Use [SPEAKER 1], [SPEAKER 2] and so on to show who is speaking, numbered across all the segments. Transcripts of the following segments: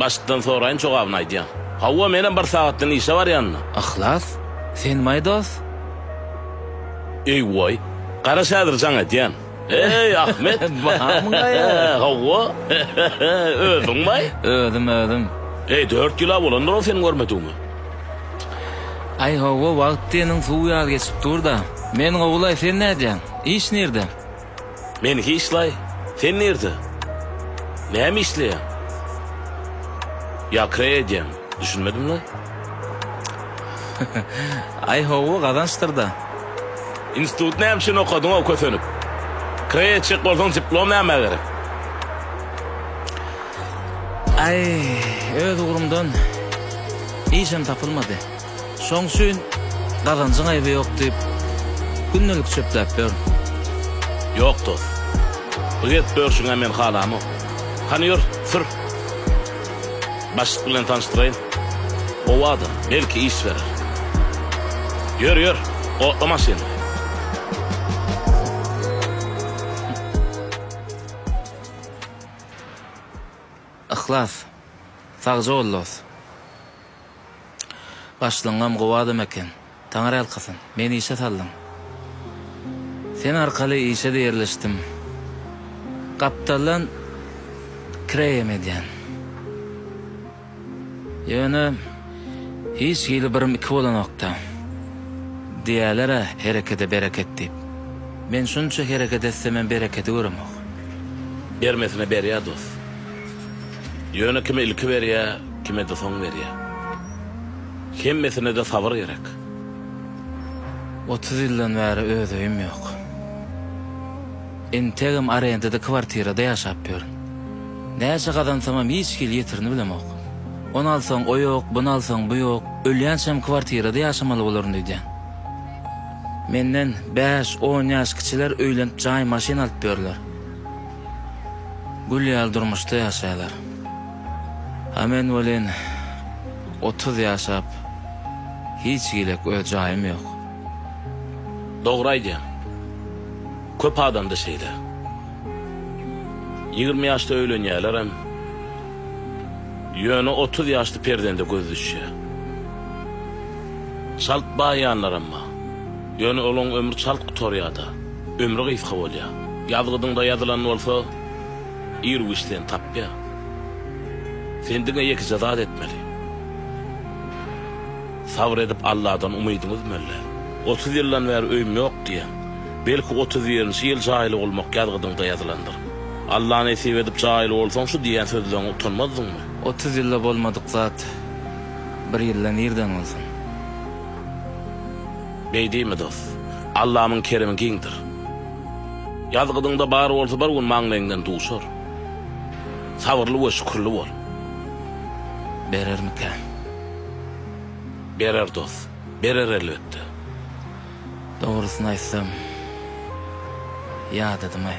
[SPEAKER 1] Başdan soraýyn jogabyny aýdýan. Hawa menem bir sagatdan işe barýanda. Yhlas sen my dos. Eý goý. Garaş häzir jaň edýän. Eý Ahmet. Bamyňaýa. Hawa. Özüň my? Özüm özüm. Eý dört ýyla bolandyr ol seni görmedigime. Aý hawa wagt diýeniň suw ýaly geçip durda. Men gowulaý sen nädýäň? Iş nirde? Men hiçlaý. Sen nirde? Näme işleýäň? Ýa kre edýäň? Düşünmedim la. Aý howwa gazançdyr-da. Institut näme üçin okadyňow kösenip? Kre etjek bolsaň diplom nämä gerek? Aý öz ugrumdan işem tapylmady. Şoň üçin gazanjyň aýby ýok diýip, gündelik çöpläp ýörün. Ýok dost. Bu gezip börşüňä men halamok. Hany ýör, sür. Başlyk bilen tanyşdyraýyn. Gowy adam, belki iş berer. Ýör, ýör, otla maşyny. Yhlas. Sagja bol dost. Başlygyňam gowy adam eken. Taňyrýalkasyn, meni işe saldyň. Sen arkaly işe-de ýerleşdim. Gapdaldan kireýem edýän. Ýöne hiç hili birim iki bolanok-da. Diýýäler-ä, herekede bereket diýip. Men şunça hereket etsemem berekedi göremok. Bermesine berýär dost. Ýöne kime ilki berýä, kime-de soň berýä. Hemmesine-de sabyr gerek. Otuz ýyldan bäri öz öýüm ýok. Entegem arendada kwartirada ýaşap ýörün. Näçe gazansamam hiç hili ýetirini bilemok. Ony alsaň o ýok, buny alsaň bu ýok, ölýänçäm kwartirada ýaşamaly bolaryn öýdýän. Menden bäş, on ýaş kiçiler öýlenip jaý, maşyn alyp ýörler. Gül ýaly durmuşda ýaşaýlar. A men welin otuz ýaşap hiç gilek öz jaýym ýok. Dogry aýdýaň. Köp adamda şeýle. Ýigrimi ýaşda öýlenýärlerem. Ýöne otuz ýaşda perzende göz düşýär. Çalt baýýanlaram bar. Ýöne olaň ömri çalt gutarýada, ömri gysga bolýa. Ýazgydyňda ýazylan bolsa, ir güýç seni tapýa. Sen diňe ýekeje zat etmeli. Sabyr edip Alladan umydyňy üzmeli. Otuz ýyldan bäri öýüm ýok diýýäň. Belki otuz birinji ýyl jaýly bolmak ýazgydyňda ýazylandyr. Alla nesip edip jaýly bolsaň şu diýýän sözleriňe utanmazdyňmy? Otuz ýylda bolmadyk zat bir ýylda nirden bolsun? Beýdimi dost? Allamyň keremi giňdir. Ýazgydyňda bar bolsa bir gün maňlaýyňdan duşar. Sabyrly we şükürli bol. Berermikä? Berer dost. Berer elbetde. Dogrusyny aýtsam, ýadadym-aý.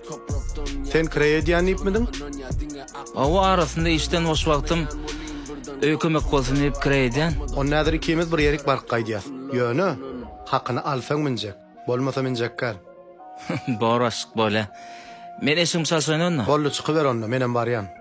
[SPEAKER 1] Sen kireý edýän diýipmidiň? Hawa, arasynda işden boş wagtym öýe kömek bolsun diýip kireý edýän. Onda häzir ikimiz bir ýerik baryp gaýdýas. Ýöne, hakyny alsaň minjek, bolmasa minjekgär. Bor, aşyk bolýa. Men eşigimi çalşaýyn onda. Boldy, çykyber onda, menem barýan.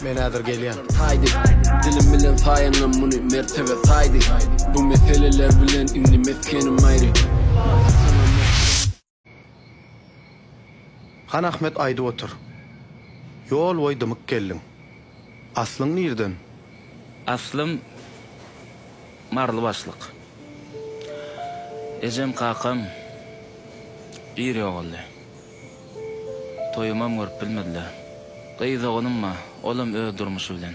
[SPEAKER 1] Men häzir gelýän. Taýdy, dilim bilen saýanam muny mertebe saýdy, Bu meseleler bilen indi mesgenim aýry. Han Ahmet aýdyp otyr. Ýol boýy dymyk geldiň. Aslyň nirden? Aslym Marylybaşlyk. Ejem kakam ir ýogaldy. Toýumam görüp bilmediler. Gyz ogulym bar, olam öz durmuşy bilen.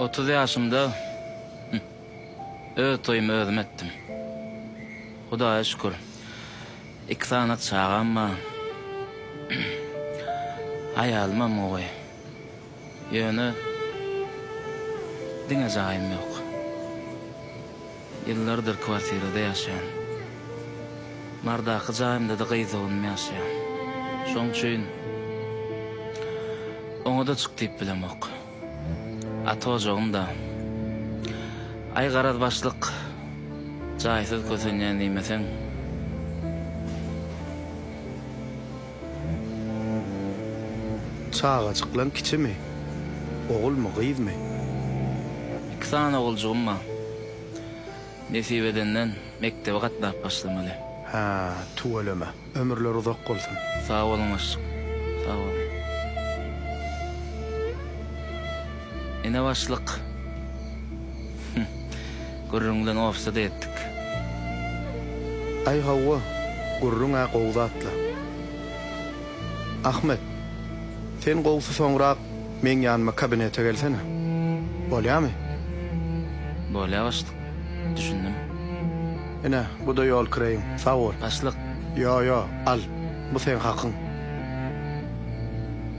[SPEAKER 1] Otuz ýaşymda öz toýumy özüm etdim. Hudaýa şükür, iki sany çagam bar. Aýalymam gowy. Ýöne diňe jaýym ýok. Ýyllardyr kwartirada ýaşaýan. Nardaky jaýymda-da gyz-oglunym ýaşaýar. Şoň üçin oňa-da çyk diýip bilemok. Ata ojagym-da. Aý garaz başlyk, jaýsyz kösenýän diýmeseň. Çagajyklaň kiçimi? Ogulmy, gyzmy? Iki sany oguljygym bar. Nesip edenden, mekdebe gatnap başlamaly. Hä, tüweleme. Ömürleri uzak bolsun. Sag boluň, başlyk. Sag boluň. Ene başlyk. Hüh. Gürrüň bilen ofise-de ýetdik. Aý hawa, gürrüň-ä gowy zat-la. Ahmet, sen gowusy soňrak meň ýanyma kabinete gelsene. Bolýamy? Bolýa başlyk. Düşündim. Ine, bu-da ýol kireýiň. Sag bol. Başlyk. Ýo-ýo, al, bu seň hakyň.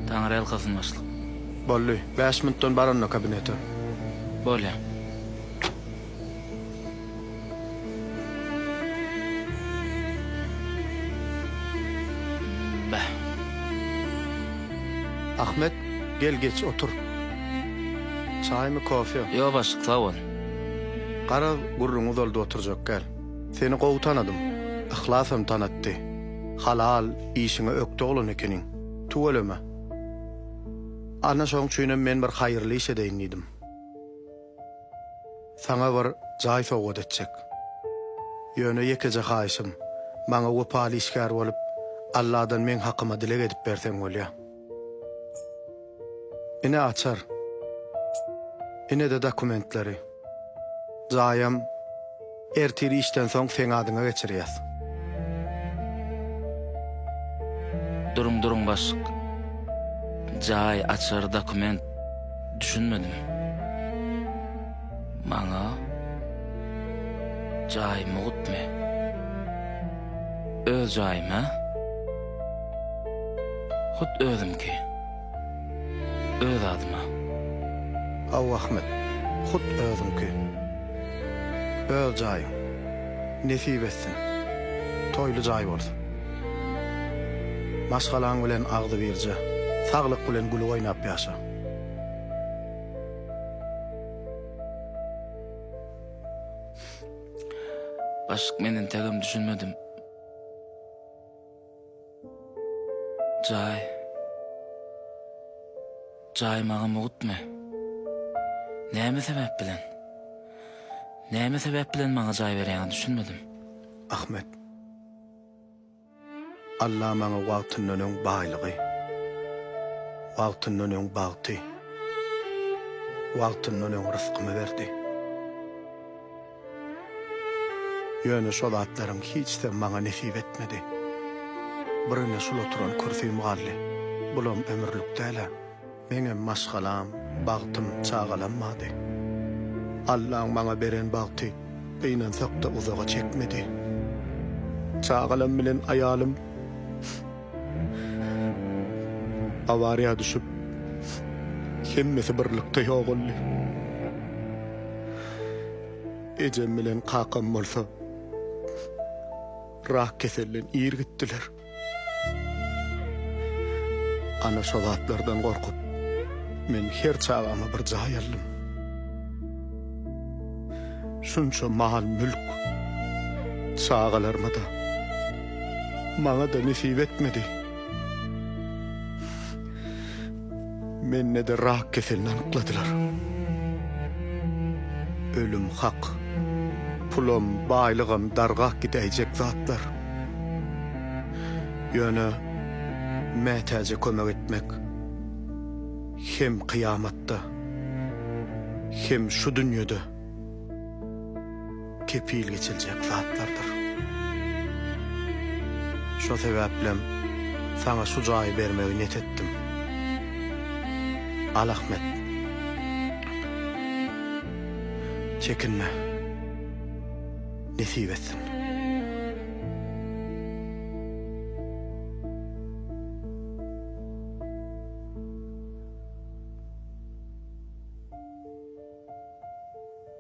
[SPEAKER 1] Taňyrýalkasyn başlyk. Boldy. Bäş minutdan bar onda kabinete. Bolýa. Beh. Ahmet, gel geç, otur. Çaýmy, kofe? Ýok, başlyk, sag bol. Garaz, gürrüňi uzaldyp oturjak däl. Seni gowy tanadym. Yhlas hem tanatdy. Halal, işiňe ökde oglan ekeniň. Tüweleme. Ana şoň üçinem men bir haýyrly iş edeýin diýdim. Saňa bir jaý sowgat etjek. Ýöne ýekeje haýyşym, maňa wepaly işgär bolup, Alladan meň hakyma dileg edip berseň bolýa. Ine açar. Ine-de dokumentleri. Jaýam ertir işden soň seň adyňa geçirýäs. Duruň duruň başlyk. Jaý, açar, dokument. Düşünmedim. Maňa jaý mugtmy? Öz jaýym hä? Hut özümki. Öz adyma. Aw Ahmet, hut özüňki. Öz jaýyň. Nesip etsin. Toýly jaý bolsun. Maşgalaň bilen agzybirje, saglyk bilen gülüp oýnap ýaşa. Başlyk men entegem düşünmedim. Jaý. Jaý maňa mugtmy? Näme sebäp bilen? Näme sebäp bilen maňa jaý berýäňiz düşünmedim. Ahmet. Alla maňa wagtyndan öň baýlygy, wagtyndan öň bagty, wagtyndan öň ryskymy berdi. Ýöne şol zatlaryň hiçsem maňa nesip etmedi. Birine şul oturan kürsüm galdy. Bulam ömürlik däl-ä. Meňem maşgalam, bagtym, çagalam bardy. Allaň maňa beren bagty gynansak-da uzaga çekmedi. Çagalam bilen aýalym. Awariýa düşüp, hemmesi birlikde ýogaldy. Ejem bilen kakam bolsa rak keselden ir gitdiler. Ana şo zatlardan gorkup, men her çagama bir jaý aldym. Şunça mal-mülk, çagalaryma-da. Maňa-da nesip etmedi. Mende-de rak keselini anykladylar. Ölüm hak. Pulam, baýlygam dargap gidäýjek zatlar. Ýöne mätäje kömek etmek hem kyýamatda, hem şu dünýede. kepil geçiljek zatlardyr. Şo sebäplem saňa şu jaýy bermegi net etdim. Al Ahmet. Çekinme. Nesip etsin.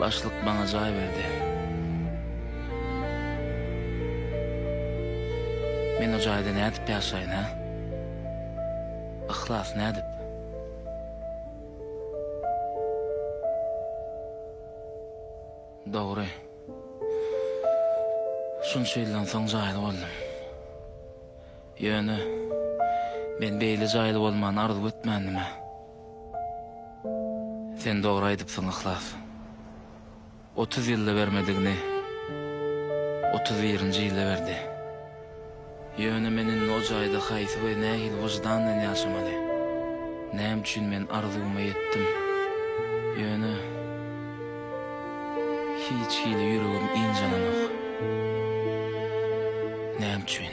[SPEAKER 1] Başlyk maňa jaý berdi. Men o jaýda nädip ýaşaýyn, hä? Yhlas, nädip? Dogry. Şunça ýyldan soň jaýly boldum. Ýöne, men beýle jaýly bolmany arzuw etmändim-ä. Sen dogry aýdypsyň Yhlas. Otuz ýylda bermedigini otuz birinji ýylda berdi. Ýöne men indi o jaýda haýsy we nähili wyždan bilen ýaşamaly? Näme üçin men arzuwyma ýetdim, ýöne hiç hili ýüregim ynjalanok? Näme üçin?